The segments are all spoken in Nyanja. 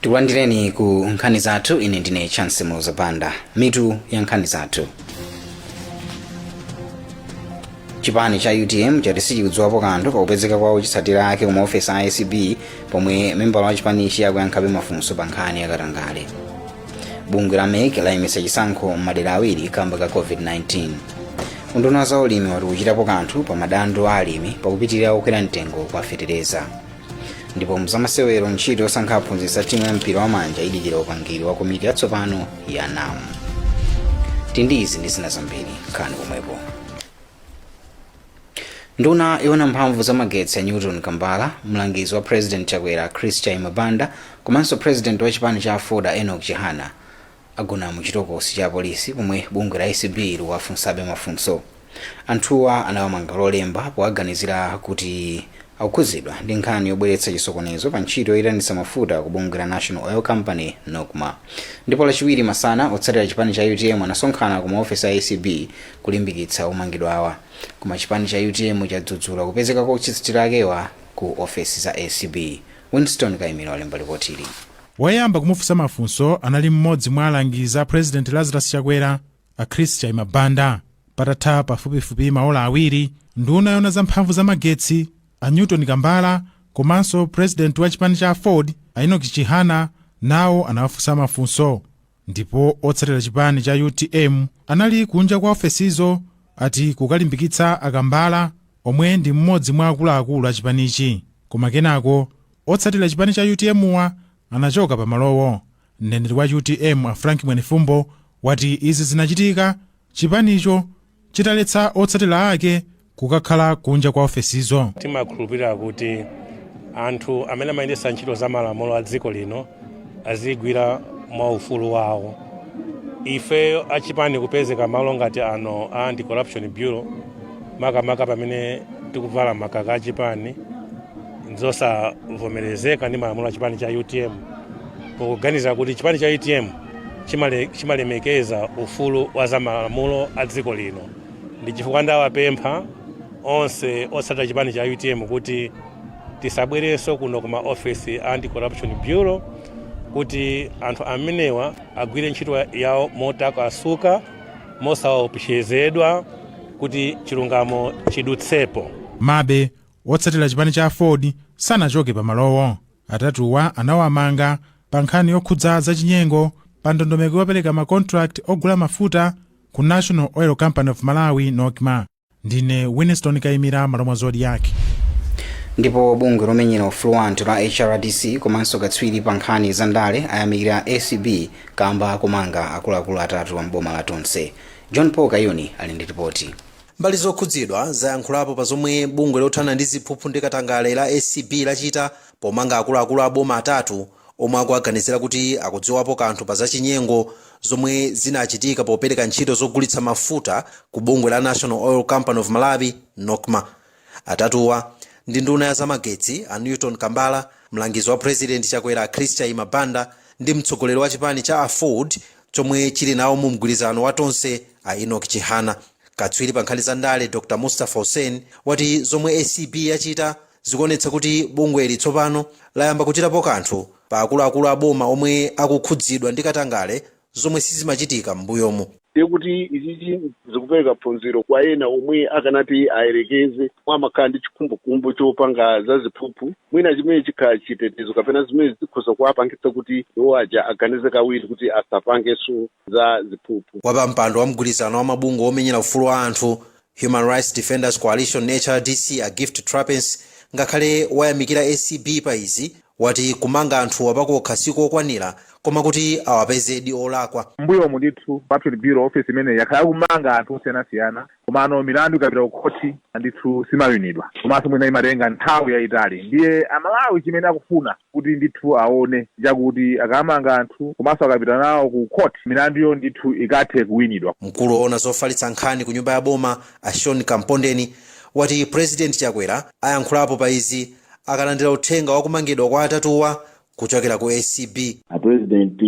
tikulandireni ku nkhani zathu ine ndine chance muloza banda mitu ya nkhani zathu chipani cha utm chati sichikudziwapo kanthu pakupezeka kwa otsatira ake ku maofesi a acb pomwe membala wa chipanichi akuyankhabe mafunso pa nkhani yakatangale bungwe la mec layimitsa chisankho m'madera awiri kamba ka covid-19 unduna wa zaulimi wati ukuchitapo kanthu pa madandaulo a alimi pakupitirira kukwera mtengo kwa fetereza ndipo mzamasewero ntchito yosankha aphunzitsi a timu ya mpira wa manja idikira upangiri wa komiti yatsopano ya nam tili ndi izi ndi zina zambiri nkhani komwepo nduna yowona mphamvu za magetsi a newton kambala mlangizi wa president chakwera chris chaima banda komanso president wa chipani cha aford enoch chihana agona mu chitokosi cha polisi pomwe bungwe la acb likuwafunsabe mafunso anthuwa anawamanga lolemba powaganizira kuti akukhuzidwa ndi nkhani yobweretsa chisokonezo pa ntchito yoyitanitsa mafuta ku bungwe la national oil company nocma ndipo lachiwiri masana otsatira chipani cha utm anasonkhana ku maofesi a acb kulimbikitsa omangidwawa koma chipani cha utm chadzudzula kupezeka kwa otsatira akewa ku ofesi za acb. Winston Kaimira walemba lipotili. Woyamba kumufunsa mafunso anali mmodzi mwa alangizi a President Lazarus Chakwera, a Chris Chaima-Banda. Patatha pafupifupi maola awiri, nduna yoona za mphamvu za magetsi, a Newton Kambala komanso president wa chipani cha aford, a Enoch Chihana nawo anawafunsa mafunso. Ndipo otsatira chipani cha utm anali kunja kwa ofesizo ati kukalimbikitsa a Kambala omwe ndi m'modzi mwa akuluakulu a chipanichi. Koma kenako otsatira chipani cha UTM-wa anachoka pa malowo. Mneneri wa utm a Frank Mwenefumbo wati izi zinachitika chipanicho chitaletsa otsatira ake kukakhala kunja kwa ofesizo timakhulupirira kuti anthu amene amayendetsa ntchito za malamulo a dziko lino azigwira mwa ufulu wawo ifeyo achipani kupezeka malo ngati ano a anti-corruption bureau makamaka pamene tikuvala makaka achipani nzosavomerezeka ndi malamulo a chipani cha utm pokuganiza kuti chipani cha utm chimalemekeza ufulu wa za malamulo a dziko lino ndi chifukwa ndawapempha onse otsatira chipani cha utm kuti tisabwerenso kuno kuma ofesi a anti corruption bureau kuti anthu amenewa agwire ntchito yawo motakasuka mosaopsezedwa kuti chilungamo chidutsepo komabe otsatira chipani cha aford sanachoke pamalowo atatuwa anawamanga pa nkhani yokhudza zachinyengo pa ndondomeko yopereka makontrakt ogula mafuta Ku National Oil Company of Malawi, NOCMA, ndine Winston Kaimira m'malo mwa Zodiak. ndipo bungwe lomenyera ufulu wa anthu la hrdc komanso katswiri pa nkhani za ndale ayamikira acb kamba komanga akuluakulu atatu a m'boma la tonse john paul kayuni ali ndi ripoti mbali zokhudzidwa zayankhulapo pa zomwe bungwe lothana ndi ziphuphu ndi katangale la acb lachita pomanga akuluakulu a boma atatu omwe akuwaganizira kuti akudziwapo kanthu pa zachinyengo zomwe zinachitika popereka ntchito zogulitsa mafuta ku bungwe la National Oil Company of Malawi, NOCMA. Atatuwa ndi nduna ya zamagetsi a Newton Kambala, mlangizi wa President Chakwera a Chris Chaima Banda ndi mtsogoleri wa chipani cha Aford chomwe chili nawo mu mgwirizano wa Tonse a Enoch Chihana. Katswiri pa nkhani za ndale Dr Mustapha Hussein wati zomwe acb yachita Zikuonetsa kuti bungweli tsopano layamba kuchitapo kanthu pa akuluakulu a boma omwe akukhudzidwa ndi katangale zomwe sizimachitika m'mbuyomu. Ndiye kuti ichichi zikupereka phunziro kwa ena omwe akanati ayerekeze omwe amakhala ndi chikhumbokhumbo chopanga za ziphuphu mwina chimene chikhala chitetezo kapena zimene zikhoza kuwapangitsa kuti iwo aja aganize kawiri kuti asapangenso za ziphuphu. Wapampando wa mgwirizano wa mabungwe omenyera ufulu wa anthu Human Rights Defenders Coalition, HRDC, a Gift Trapence ngakhale wayamikira acb pa izi, wati kumanga anthuwa pakokha si kokwanira koma kuti awapezedi olakwa. M'mbuyomu ndithu Corruption Bureau Office imeneyi yakhala ikumanga anthu osiyanasiyana komano milandu ikapita kukhothi ndithu simawinidwa komanso mwina imatenga nthawi yaitali ndiye Amalawi chimene akufuna kuti ndithu aone chakuti akamanga anthu komanso akapita nawo ku court milanduyo ndithu ikathe kuwinidwa. Mkulu owona zofalitsa nkhani ku nyumba ya boma a Sean Kampondeni wati President Chakwera ayankhulapo pa izi akalandira uthenga wa kumangidwa kwa atatuwa kuchokera ku acb. A president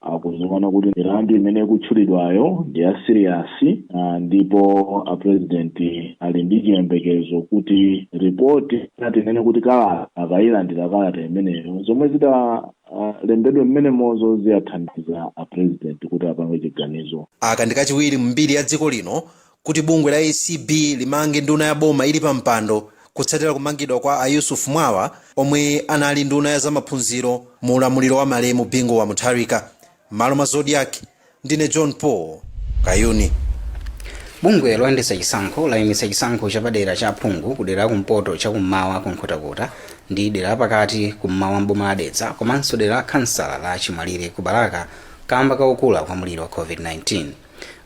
akuziona kuti milandu imene ikutchulidwayo ndi ya serious ndipo a president ali ndi chiyembekezo kuti report na tinene kuti kalata akayilandira kalata imeneyo zomwe zitalembedwe mmenemozo ziwathandiza a president kuti apange chiganizo Aka ndi kachiwiri m'mbiri ya dziko lino kuti bungwe la acb limange nduna ya boma ili pa mpando kutsatira kumangidwa kwa a Yusuf Mwawa omwe anali nduna ya zamaphunziro mu ulamuliro wa malemu Bingu wa Mutharika. M'malo mwa Zodiak ndine john paul kayuni bungwe loyendetsa chisankho layimitsa chisankho chapadera cha phungu ku dera la kumpoto cha kummawa ku nkhotakota ndi dera lapakati kummawa mboma la dedza komanso dera la khansala la chimwalire ku balaka kamba kakukula kwa mliri wa covid-19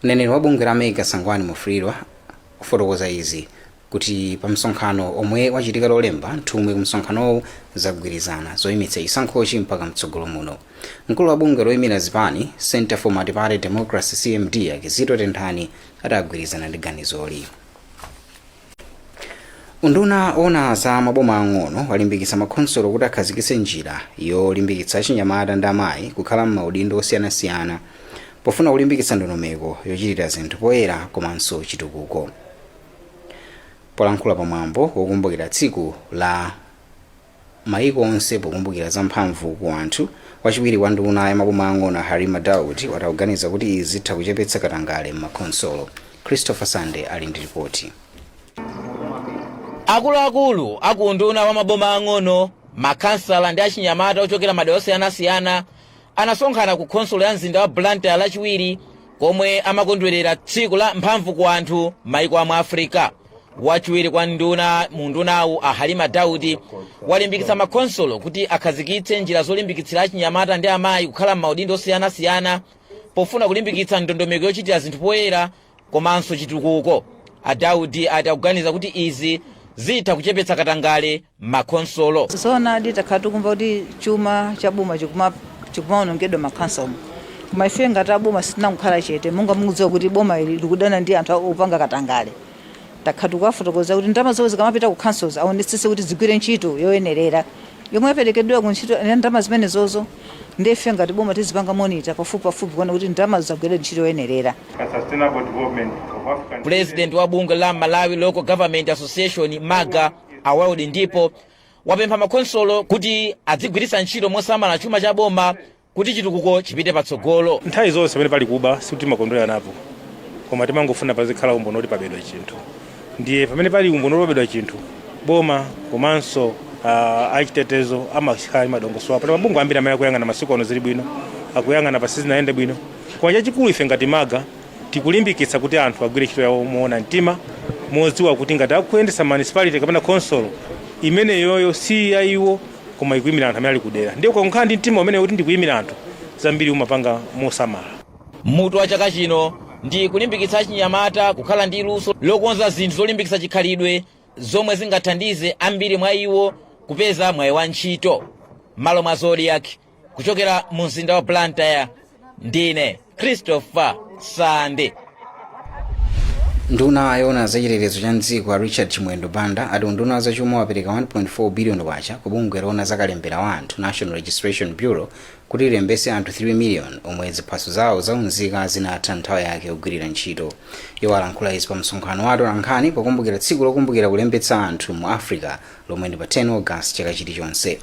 mneneri wa bungwe la mec a sangwani mwafulirwa akufotokoza izi kuti pa msonkhano omwe wachitika lolemba nthumwi ku msonkhanowu zagwirizana zoyimitsa chisankhochi mpaka mtsogolo muno mkulu wa bungwe loyimira zipani center for multiparty democracy cmd a kizito tenthani ati agwirizana ndi ganizoli unduna ona za maboma ang'ono walimbikitsa makhonsolo kuti akhazikitse njira yolimbikitsa achinyamata ndi amayi kukhala m'maudindo osiyanasiyana pofuna kulimbikitsa ndondomeko yochitira zinthu poyera komanso chitukuko polankhula pa mwambo wokumbukira tsiku la maiko onse pokumbukira za mphamvu ku anthu wachiwiri kwa nduna ya maboma ang'ono a halima daudi wati akuganiza kuti izi zitha kuchepetsa katangale m'makhonsolo christopher sande ali ndi lipoti akuluakulu aku unduna wa maboma ang'ono makhansala ndi achinyamata ochokera madera osiyanasiyana anasonkhana ku khonsolo ya mzinda wa blantyre lachiwiri komwe amakondwerera tsiku la mphamvu ku anthu maiko a mu africa wachiwiri kwa nduna mu undunawu a halima daudi walimbikitsa makhonsolo kuti akhazikitse njira zolimbikitsira achinyamata ndi amayi kukhala m'maudindo osiyanasiyana pofuna kulimbikitsa ndondomeko yochitira zinthu poyera komanso chitukuko a daudi ati akuganiza kuti izi zitha kuchepetsa katangale m'makhonsolo. Zoonadi takhala tikumva kuti chuma cha boma chikumaonongedwa m'makhonsolomu koma ife ngati a boma sitinangokhala chete. Monga mukudziwa kuti boma ili likudana ndi anthu opanga katangale, takhala tikuwafotokozera kuti ndalama zomwe zikamapita kumakhansozi aonetsetse kuti zigwire ntchito yoyenerera yomwe yaperekedwera ku ntchito ya ndalama zimenezozo. Ndiye ife ngati boma tizipanga monitor pafupipafupi kuona kuti ndalamazo zagwira ntchito yoyenerera. Pulezidenti wa bungwe la Malawi Local Government Association, MALGA, a Wild Ndipo wapempha makhonsolo kuti adzigwiritsa ntchito mosamala chuma cha boma kuti chitukuko chipite patsogolo. Nthawi zonse pamene pali kuba sikuti timakondwera napo koma timangofuna pazikhala umboni woti pabedwa chinthu. Ndiye pamene pali umboni woti pabedwa chinthu, boma komanso uh, achitetezo amakhala madongosolo apo. Mabungwe ambiri amene akuyang'ana masiku ano zili bwino, akuyang'ana pa sizinayende bwino, koma chachikulu ife ngati MALGA Tikulimbikitsa kuti anthu agwire ntchito yawo moona mtima modziwa kuti ngati akuyendetsa municipality kapena khonsolo, imeneyoyo si ya iwo koma ikuimira anthu amene ali kudera. Ndiye ukangokhala ndi mtima umenewo woti ndikuimira anthu, zambiri umapanga mosamala. Mutu wa chaka chino ndi Kulimbikitsa achinyamata kukhala ndi luso lokonza zinthu zolimbikitsa chikhalidwe zomwe zingathandize ambiri mwa iwo kupeza mwayi wa ntchito m'malo mwa Zodiak. kuchokera mu mzinda wa blantyre ndine christopher sande nduna yona za chitetezo cha mdziko a richard chimwendo banda ati unduna wa zachuma wapereka 1.4 biliyoni kwacha ku bungwe lona za kalembera wa anthu national registration bureau kuti lilembetse anthu 3 miliyoni omwe ziphaso zawo zaunzika zinatha nthawi yake yogwirira ntchito iwo alankhula izi pa msonkhano wa atolankhani pokumbukira tsiku lokumbukira kulembetsa anthu mu africa lomwe ndi pa 10 August chaka chilichonse.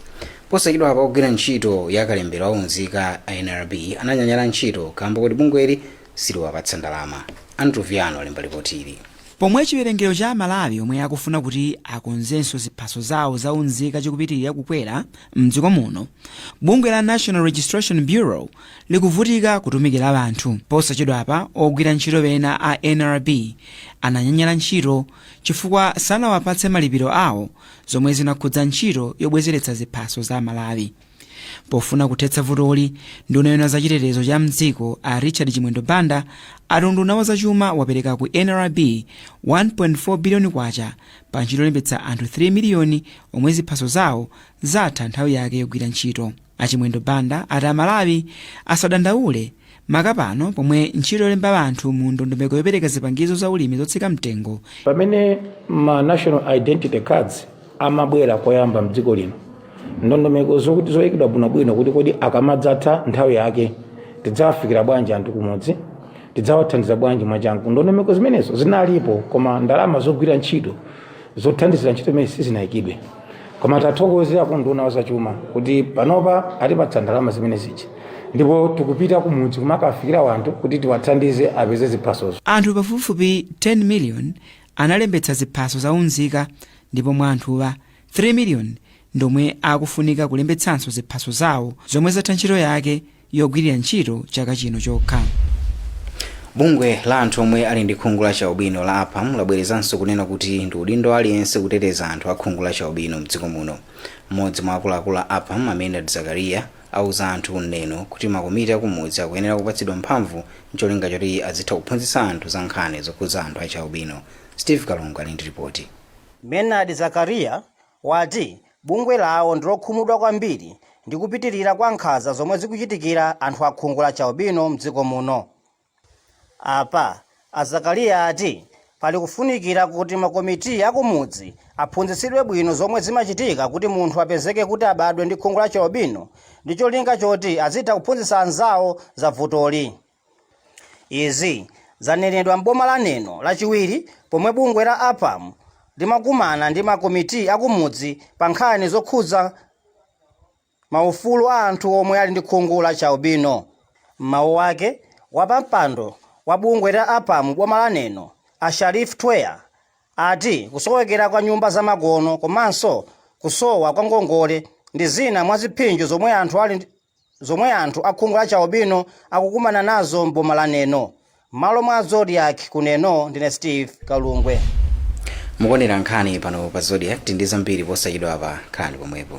Posachedwapa ogwira ntchito ya kalembera wa unzika a nrb ananyanyala ntchito kaamba koti bungweli siliwapatsa ndalama. Andrew Viano alemba lipoti ili. Pomwe chiwerengero cha aMalawi omwe akufuna kuti akonzenso ziphaso zawo za unzika chikupitirira kukwera mdziko muno, bungwe la National Registration Bureau likuvutika kutumikira anthu. Posachedwapa ogwira ntchito pena a nrb ananyanyala ntchito chifukwa sanawapatse malipiro awo zomwe zinakhudza ntchito yobwezeretsa ziphaso za amalawi pofuna kuthetsa vutoli nduna yona za chitetezo cha mdziko a richard chimwendo banda ati unduna wa zachuma wapereka ku nrb 1.4 biliyoni kwacha pa ntchito yolembetsa anthu 3 miliyoni omwe ziphaso zawo zatha nthawi yake yogwira ntchito A Chimwendo Banda ati a Malawi asadandaule maka pano pomwe ntchito yolemba anthu mu ndondomeko yopereka zipangizo za ulimi zotsika mtengo pamene ma national identity cards amabwera koyamba mdziko lino ndondomeko zokuti zoyikidwa bwinobwino kuti kodi akamadzatha nthawi yake tidzawafikira bwanji anthu kumudzi tidzawathandiza bwanji mwachangu ndondomeko zimenezo zinalipo koma ndalama zogwira ntchito zothandizira ntchito imeneyi sizinaikidwe koma tathokoze akunduna wazachuma kuti panopa atipatsa ndalama zimenezi ndipo tikupita kumudzi kumakafikira wanthu kuti tiwathandize apeze ziphasozo anthu pafupifupi 10 miliyoni analembetsa ziphaso za unzika ndipo mwa anthuwa 3 miliyoni ndomwe akufunika kulembetsanso ziphaso zawo zomwe zatha ntchito yake yogwirira ntchito chaka chino chokha. Bungwe la anthu omwe ali ndi khungu la chaubino la APAM labwerezanso kunena kuti ndi udindo wa aliyense kuteteza anthu a khungu la chaubino mdziko muno. Mmodzi mwa akuluakulu a APAM, a Maynard Zakaria, auza anthu ku Neno kuti makomiti akumudzi akuyenera kupatsidwa mphamvu n'cholinga choti azitha kuphunzitsa anthu za nkhani zokhudza anthu a chaubino. Steve Kalungwe ali ndi ripoti. Maynard Zakaria wati bungwe lawo ndilokhumudwa kwambiri ndi kupitilira kwa nkhanza zomwe zikuchitikira anthu a khungu la chialbino mdziko muno. Apa, a Zakaliya ati pali kufunikira kuti ma committee akumudzi aphunzitsidwe bwino zomwe zimachitika kuti munthu apezeke kuti abadwe ndi khungu la chialbino ndi cholinga choti azitha kuphunzitsa anzawo za vutoli. Izi zanenedwa m'boma la Neno lachiwiri pomwe bungwe la APAM limakumana ndi ma committee akumudzi pa nkhani zokhudza ma ufulu a anthu omwe ali ndi khungu la chi albino. M'mawu ake, wapampando wa bungwe la APAM m'boma la Neno, a Sharif Twea, ati kusowekera kwa nyumba za makono komanso kusowa kwa ngongole ndi zina mwa ziphinjo zomwe anthu ali zomwe anthu a khungu la chialubino akukumana nazo m'boma la Neno. M'malo mwa Zodiak ku Neno, ndine Steve Kalungwe. mukuonera nkhani pano pa Zodiak tili ndi zambiri posachedwa apa khalani pomwepo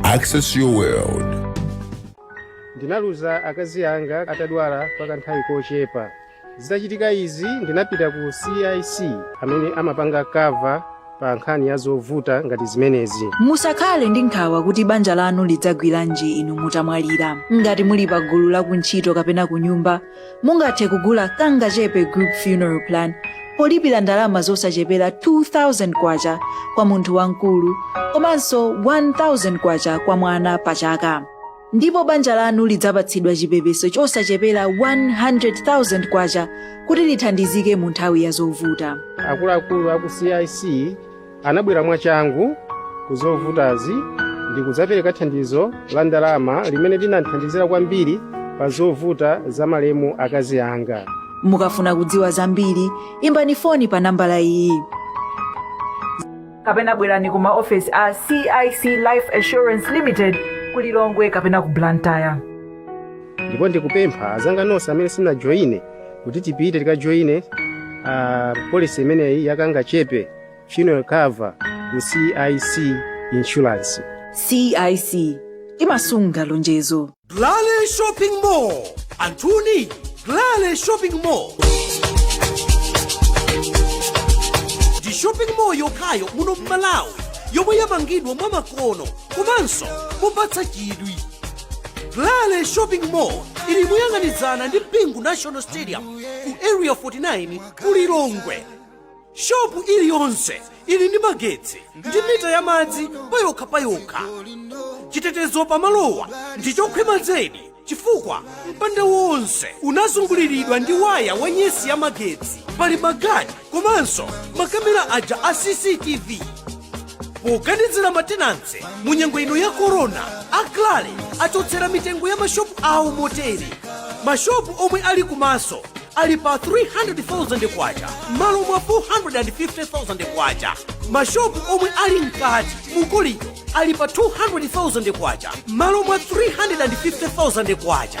Access your world. ndinaluza akazi anga atadwala kwa kanthawi kochepa zitachitika izi ndinapita ku cic amene amapanga kava pa nkhani ya zovuta ngati zimenezi musakhale ndi nkhawa kuti banja lanu lidzagwiranji inu mutamwalira ngati muli pa gulu la kuntchito kapena kunyumba Mungathe kugula Kangachepe Group Funeral Plan polipira ndalama zosachepera K2,000 kwa munthu wamkulu komanso K1,000 kwa mwana pa chaka. Ndipo banja lanu lidzapatsidwa chipepeso chosachepera K100,000 kuti lithandizike mu nthawi ya zovuta. Akuluakulu a ku CIC anabwera mwachangu ku zovutazi ndi kudzapereka thandizo la ndalama limene linandithandizira kwambiri pa zovuta za malemu akazi anga mukafuna kudziwa zambiri imbani foni pa nambala iyi kapena bwerani ku maofesi a cic life assurance limited ku lilongwe kapena ku blantyre ndipo ndikupempha azanga nonse amene sanajoyine kuti tipite tikajoyine uh, polisi imeneyi yakangachepe funeral cover ku cic insurance cic imasunga lonjezo Glale Shopping Mall. Anthuni, Glale Shopping Mall. Ndi shopping mall yokhayo muno m'Malawi yomwe yamangidwa mwamakono komanso mopatsa chidwi. Glale Shopping Mall ili moyang'anizana ndi Bingu National Stadium ku Area 49 ku Lilongwe. shopu iliyonse ili ndi magetsi ndi mita ya madzi payokha payokha chitetezo pamalowa ndi chokhwima zedi chifukwa mpanda wonse unazunguliridwa ndi waya wa nyesi ya magetsi pali magadi komanso makamera aja a cctv poganizira matenanse mu nyengo ino ya korona aklale achotsera mitengo ya mashopu awo motere mashopu omwe ali kumaso ali pa 300,000 kwacha m'malo mwa 450,000 kwacha mashopu omwe ali mkati mukolido ali pa 200,000 kwacha m'malo mwa 350,000 kwacha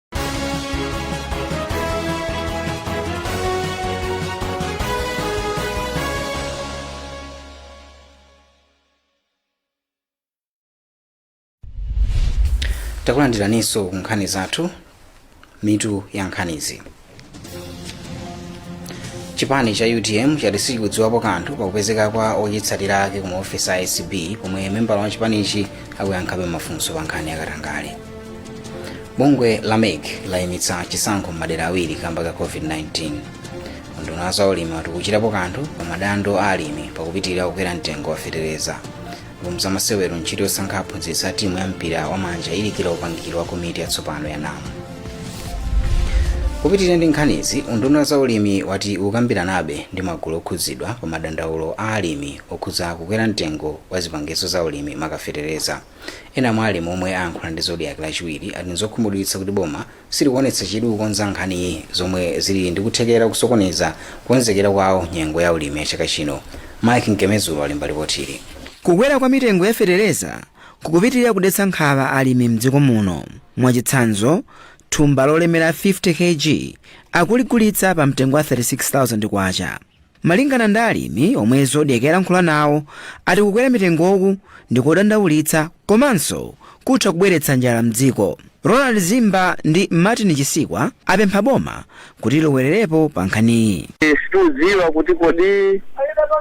takulandiraninso ku nkhani zathu mitu ya nkhanizi chipani cha utm chati sichikudziwapo kanthu pakupezeka kwa ochitsatira ake ku maofesi a acb pomwe membala wa chipanichi akuyankhabe mafunso pa nkhani ya katangale bungwe la mec layimitsa chisankho m'madera awiri kamba ka covid-19 unduna wa zaulimi wati ukuchitapo kanthu pa madando a alimi pakupitirira kukwera mtengo wa fetereza mu zamasewero ntchito yosankha aphunzitsi a timu ya mpira wa manja idikira upangiri wa komiti yatsopano ya nam kupitirira ndi nkhanizi unduna wa zaulimi wati ukambiranabe ndi magulu okhudzidwa pa madandaulo a alimi okhudza kukwera mtengo wa zipangizo za ulimi maka fetereza ena mwa alimi omwe ayankhula ndi zodiak lachiwiri ati nzokhumudwitsa kuti boma silikuonetsa chidwi kukonza nkhaniyi zomwe zili ndi kuthekera kusokoneza kukonzekera kwawo nyengo ya ulimi ya chaka chino mike mkemezulo alemba lipotili kukwera kwa mitengo ya fetereza kukupitirira kudetsa nkhawa alimi mdziko muno mwachitsanzo thumba lolemera 50 kg akuligulitsa pa mtengo wa 36000 kwacha Malingana ndi alimi omwe Zodiak yalankhula nawo ati kukwera mitengoku ndikodandaulitsa komanso kutha kubweretsa njala mdziko. Ronald Zimba ndi Martin Chisikwa apempha boma kuti lilowererepo pa nkhaniyi. Situdziwa kuti kodi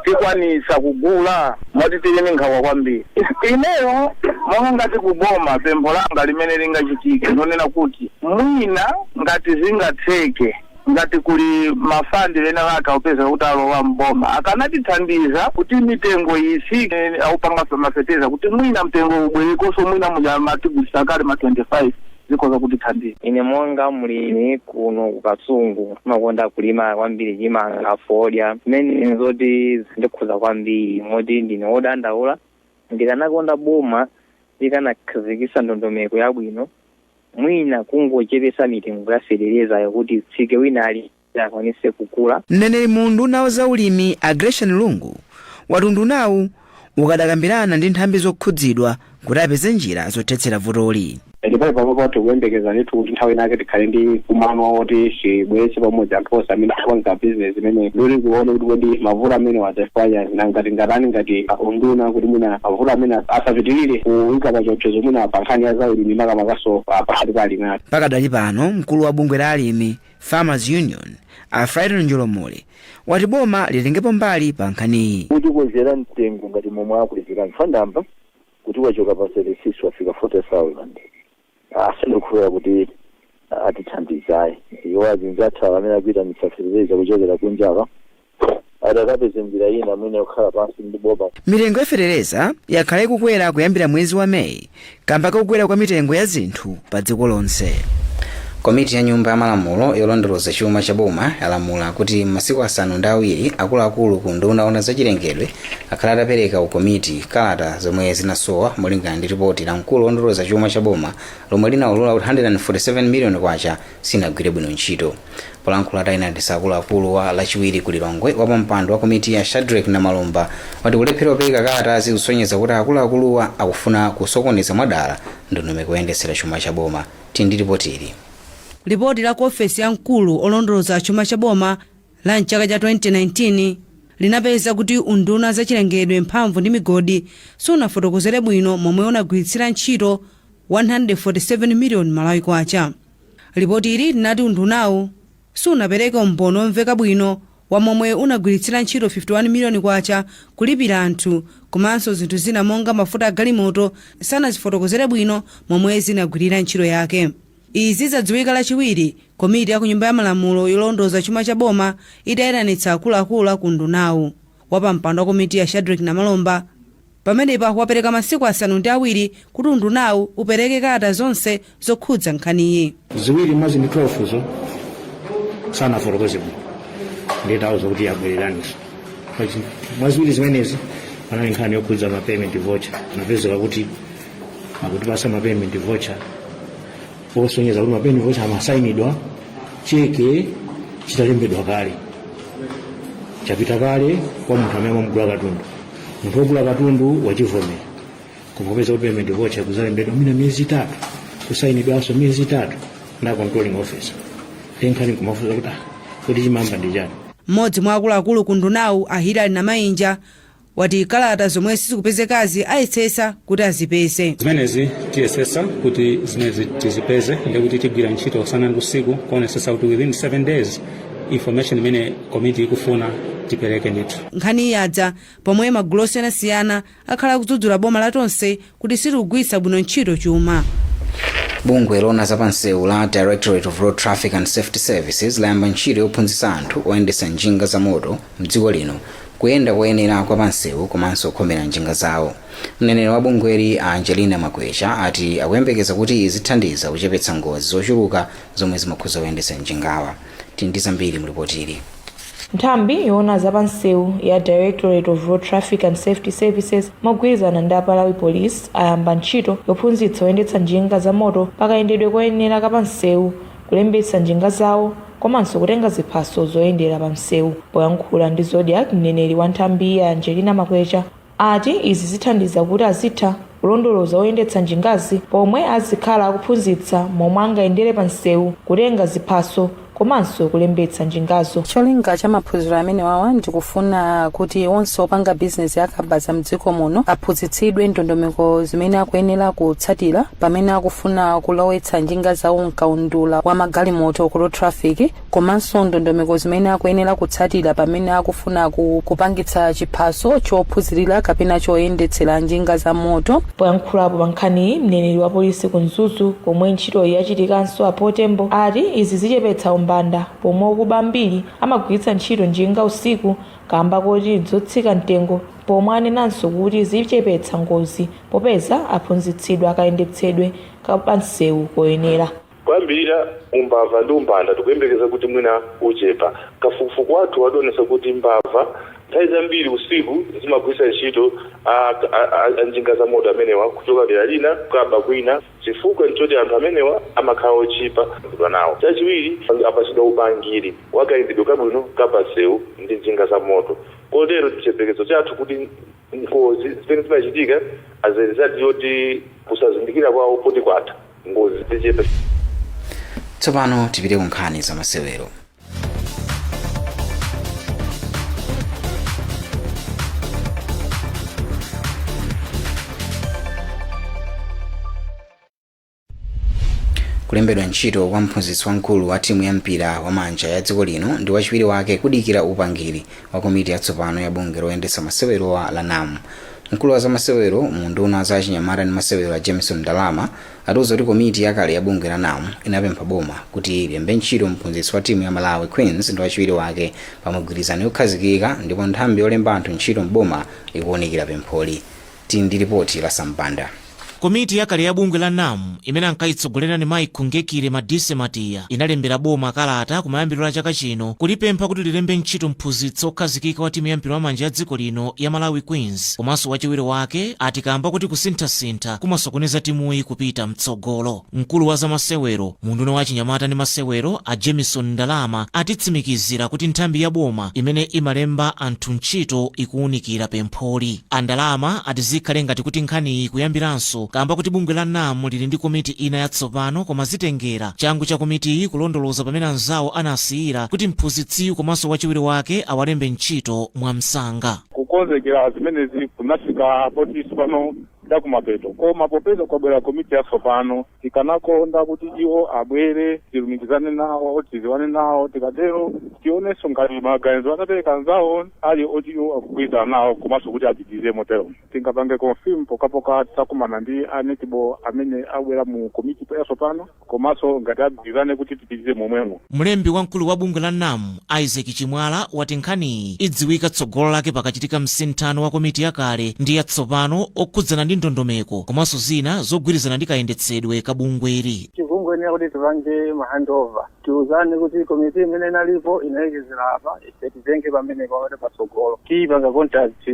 tikwanitsa kugula moti tili ndi nkhawa kwambiri. Ineyo monga ngati ku boma pempho langa limene lingachitike ndonena kuti mwina ngati zingatheke. Ngati kuli ma fund ena ake akupezeka kuti alowa m'boma akanatithandiza kuti mitengo itsike akupanga ma fertilizer kuti mwina mtengo ubwerekonso mwina muja amatigulitsa kale ma 25 zikhoza kutithandiza. Ine monga mlimi kuno ku Kasungu ndimakonda kulima kwambiri chimanga, fodya zimene nzoti zindikhuza kwambiri moti ndine wodandaula. Ndikanakonda boma likanakhazikitsa ndondomeko yabwino Mwina kungochepetsa mitengo ya fetelezayo kuti itsike wina aliyense akwanitse kugula. Mneneri mu unduna wa za ulimi a Gracian Lungu wati undunawu ukadakambirana ndi nthambi zokhudzidwa kuti apeze njira zothetsera vutoli. Ndipo panopa tikuyembekeza ndithu kuti nthawi inayake tikhale ndi mkumano woti tibweretse pamodzi anthu onse amene akupanga bizinesi imeneyi ndikuti tione kuti kodi mavuto amenewa achifukwa chani. Nanga tingatani ngati a unduna kuti mwina mavuto amene asapitirire kuika pachiopsezo mwina pa nkhani ya zaulimi makamakanso pa- pakati pa alimi athu? pakadali pano mkulu wa bungwe la alimi farmers union a frighton njolomole wati boma litengepo mbali pa nkhaniyi kuti kwezera mtengo ngati momwe akwezeramu fifty thousand amba kuti wachoka pa 36 wafika 40000 Ah, sindikukhulupirira kuti ah, atithandiza ayi iwo azinzathu awa amene akuitanitsa fetereza kuchokera kunjaku atakapeza njira ina mwina yokhala pansi ndi boma mitengo ya fetereza yakhala ikukwera kuyambira mwezi wa meyi kamba kakukwera kwa mitengo ya zinthu pa dziko lonse komiti ya nyumba ya malamulo yolondoloza chuma cha boma yalamula kuti m'masiku asanu ndi awiri akuluakulu ku unduna oona zachilengedwe akhale atapereka ku komiti kalata zomwe zinasowa molingana ndi ripoti la mkulu wolondoloza chuma cha boma lomwe linaulula kuti 147 miliyoni kwacha sinagwire bwino ntchito polankhula ataitanitsa akuluakuluwa lachiwiri ku lilongwe wapampando wa komitiyi a shadrek namalomba wati kulephera kupereka kalata zikusonyeza kuti akuluakuluwa akufuna kusokoneza mwadala ndondomeko yoyendetsera chuma cha boma tili ndi ripotili lipoti la ku ofesi ya mkulu olondoloza chuma cha boma la m'chaka cha 2019 linapeza kuti unduna wa zachilengedwe, mphamvu ndi migodi sunafotokozere bwino momwe unagwiritsira ntchito 147 miliyoni Malawi Kwacha. Lipotili linati undunawu sunapereke umboni womveka bwino wa momwe unagwiritsira ntchito K51 miliyoni kulipira anthu komanso zinthu zina monga mafuta a galimoto sanazifotokozere bwino momwe zinagwirira ntchito yake. Izi zadziwika lachiwiri komiti ya kunyumba ya malamulo yolondoza chuma cha boma itayitanitsa akuluakulu aku undunawu. Wapampando wa komitiyi a Shadric Namalomba pamenepa wapereka masiku asanu ndi awiri kuti undunawu upereke kalata zonse zokhudza nkhaniyi. ziwiri mwa zinthu 12 zo sanafotokoze bwino ndiye tawauza kuti abwererenso mwa ziwiri zimenezi panali nkhani yokhudza ma payment voucher anapezeka kuti akutipasa mapayment voucher osonyeza kuti mapayment voucher amasayinidwa cheke chitalembedwa kale chapita kale kwa munthu amene amugula katundu munthu wogula katundu wachivomera koma kupeza kuti payment voucher kuzalembedwa mwina miyezi itatu kusayinidwanso miyezi itatu na controlling officer nde nkhani kumafunsa kuti ah, kuti chimayamba ndi chani mmodzi mwa akuluakulu ku undunawu a hilary namayinja wati kalata zomwe sizikupezekazi ayesesa kuti azipeze zimenezi tiyesesa kuti zimenezi tizipeze ndi kuti tigwira ntchito usana ndi usiku kuonesesa kuti within 7 days information imene komiti ikufuna tipereke ndithu nkhaniyi yadza pomwe magulu osiyanasiyana akhala akudzudzula boma la tonse kuti silikugwiritsa bwino ntchito chuma. Bungwe loona za pansewu la Directorate of Road Traffic and Safety Services layamba ntchito yophunzitsa anthu oyendetsa njinga za moto mdziko lino kuyenda koyenera kwa pansewu komanso kukhomera njinga zawo. Mneneri wa bungweli a Angelina Makwecha ati akuyembekeza kuti izi zithandiza kuchepetsa ngozi zochuluka zomwe zimakhuza oyendetsa njingawa. Tili ndi zambiri mu lipotili. Nthambi yoona za pansewu ya Directorate of Road Traffic and Safety Services mogwirizana ndi a Malawi Police ayamba ntchito yophunzitsa oyendetsa njinga za moto pa kayendedwe koyenera ka pansewu, kulembetsa njinga zawo komanso kutenga ziphaso zoyendera pamsewu. Poyankhula ndi Zodiak, mneneri wa nthambiyi a Angelina Makwecha ati izi zithandiza kuti azitha kulondoloza oyendetsa njingazi pomwe azikhala akuphunzitsa momwe angayendere pa msewu kutenga ziphaso komanso kulembetsa njinga zawo cholinga cha maphunziro amenewawa ndikufuna kuti onse opanga bizinesi ya kabaza mdziko muno aphunzitsidwe ndondomeko zimene akuyenera kutsatira pamene akufuna kulowetsa njinga zawo mkaundula wa magalimoto ku road traffic komanso ndondomeko zimene akuyenera kutsatira pamene akufuna kupangitsa chiphaso chophunzirira kapena choyendetsera njinga za moto. Poyankhulapo pa nkhaniyi, mneneri wa polisi ku Mzuzu komwe ntchitoyi yachitikanso a Paul Tembo ati izi zichepetsa umbanda pomwe okuba ambiri amagwiritsa ntchito njinga usiku kamba koti ndzotsika mtengo pomwe anenanso kuti zichepetsa ngozi popeza aphunzitsidwa kayendetsedwe ka pansewu koyenera. Kuyambirira umbava ndi umbanda tikuyembekeza kuti mwina uchepa. Kafukufuku wathu waonetsa kuti mbava nthawi zambiri usiku zimagwiritsa ntchito a a njinga za moto amenewa kuchoka dera lina kukaba kwina. Chifukwa nchoti anthu amenewa amakhala otchipa kuyenda nawo. Chachiwiri apatsidwa upangiri wa kayendedwe kabwino ka pansewu ndi njinga za moto kotero chiyembekezo chathu kuti. Ngozi zimene zimachitika as a result yoti kusazindikira kwawo poti kwatha, ngozi zichepe. Tsopano tipite ku nkhani za masewero. kulembedwa ntchito kwa mphunzitsi wamkulu wa timu ya mpira wa manja ya dziko lino ndi wachiwiri wake kudikira upangiri wa komiti yatsopano ya bungwe loyendetsa masewerowa la NAM mkulu wa zamasewero mu unduna wa zachinyamata ndi masewero a jameson ndalama atiuza kuti komiti yakale ya bungwe la NAM inapempha boma kuti lilembe ntchito mphunzitsi wa timu ya malawi queens ndi wachiwiri wake pa migwirizano yokhazikika ndipo nthambi yolemba anthu ntchito mboma ikuwunikira pempholi Tili ndi lipoti la Sam Banda. Komiti yakale ya bungwe la NAM imene ankayitsogolera ndi mayi Khungekile Matiya inalembera boma kalata kumayambiriro a chaka chino kulipempha kuti lilembe ntchito mphunzitsi wokhazikika wa timu ya mpira wamanja ya dziko lino ya Malawi Queens komanso wachiwiri wake ati kaamba kuti kusinthasintha kumasokoneza timuyi kupita mtsogolo. Mkulu wa zamasewero mu unduna wa achinyamata ndi masewero, a Jameson Ndalama, atitsimikizira kuti nthambi ya boma imene imalemba anthu ntchito ikuunikira pempholi. A Ndalama ati zikhale ngati kuti nkhaniyi ikuyambiranso kaamba kuti bungwe la NAM lili ndi komiti ina yatsopano koma zitengera changu cha komitiyi kulondoloza pamene anzawo anasiyira kuti mphunzitsiyu komanso wachiwiri wake awalembe ntchito mwamsanga. Kukonzekera zimenezi kunafika poti tsopano chakumapeto. Koma popeza kwabwera komiti yatsopano, tikanakonda kuti iwo abwere tilumikizane nawo, tidziwane nawo, tikatero tionenso ngati maganizo anapereka anzawo ali oti iwo akugwirizana nawo komanso kuti apitirize motero. Tingapange confirm pokapoka titakumana ndi a netball amene abwera mu komiti yatsopano. komanso ngati agwirizane kuti tipitire momwemo. Mlembi wamkulu wa bungwe la NAM, Isaac Chimwala, wati nkhaniyi idziwika tsogolo lake pakachitika msinthano wa komiti yakale ndi yatsopano okhudzana ndi ndondomeko komanso zina zogwirizana ndi kayendetsedwe ka bungweli. Tikungoyenera kuti tipange ma handover, tiuzane kuti komiti imene inalipo inalekezera apa, ife titenge pamenepa kuti patsogolo tipange contact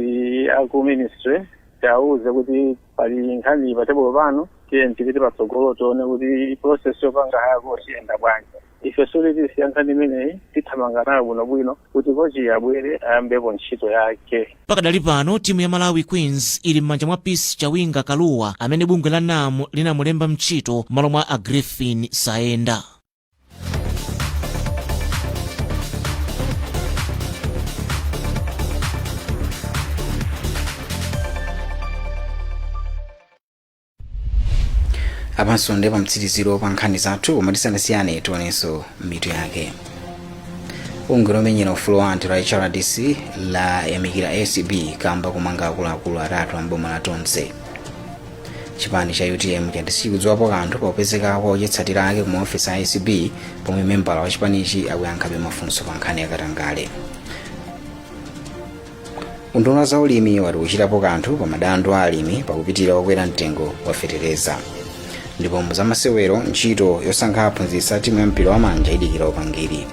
aku ministry tiwauze kuti pali nkhani pa tebulo pano tiye tipite patsogolo tione kuti process yopanga hire coach iyenda bwanji ife sikuti tisiya nkhani imeneyi tithamanga nayo bwinobwino kuti coach abwere ayambepo ntchito yake Pakadali pano timu ya Malawi Queens ili m'manja mwa Peace Chawinga Kaluwa amene bungwe la NAM linamulemba ntchito m'malo mwa a Griffin Saenda. apanso ndi pamtsiriziro pa nkhani zathu koma tisanasiyane tionenso mitu yake bungwe lomenyera ufulu wa anthu la hrdc layamikira acb kamba komanga akuluakulu atatu a m'boma la tonse chipani cha utm chati sichikudziwapo kanthu pa kupezeka kwa ochitsatira ake ku maofesi a acb pomwe membala wa chipanichi akuyankhabe mafunso pa nkhani ya katangale unduna wa zaulimi wati ukuchitapo kanthu pa madandu a alimi pakupitira kukwera mtengo wa fetereza ndipo mu zamasewero ntchito yosankha aphunzitsi a timu ya mpira wa manja idikira upangiri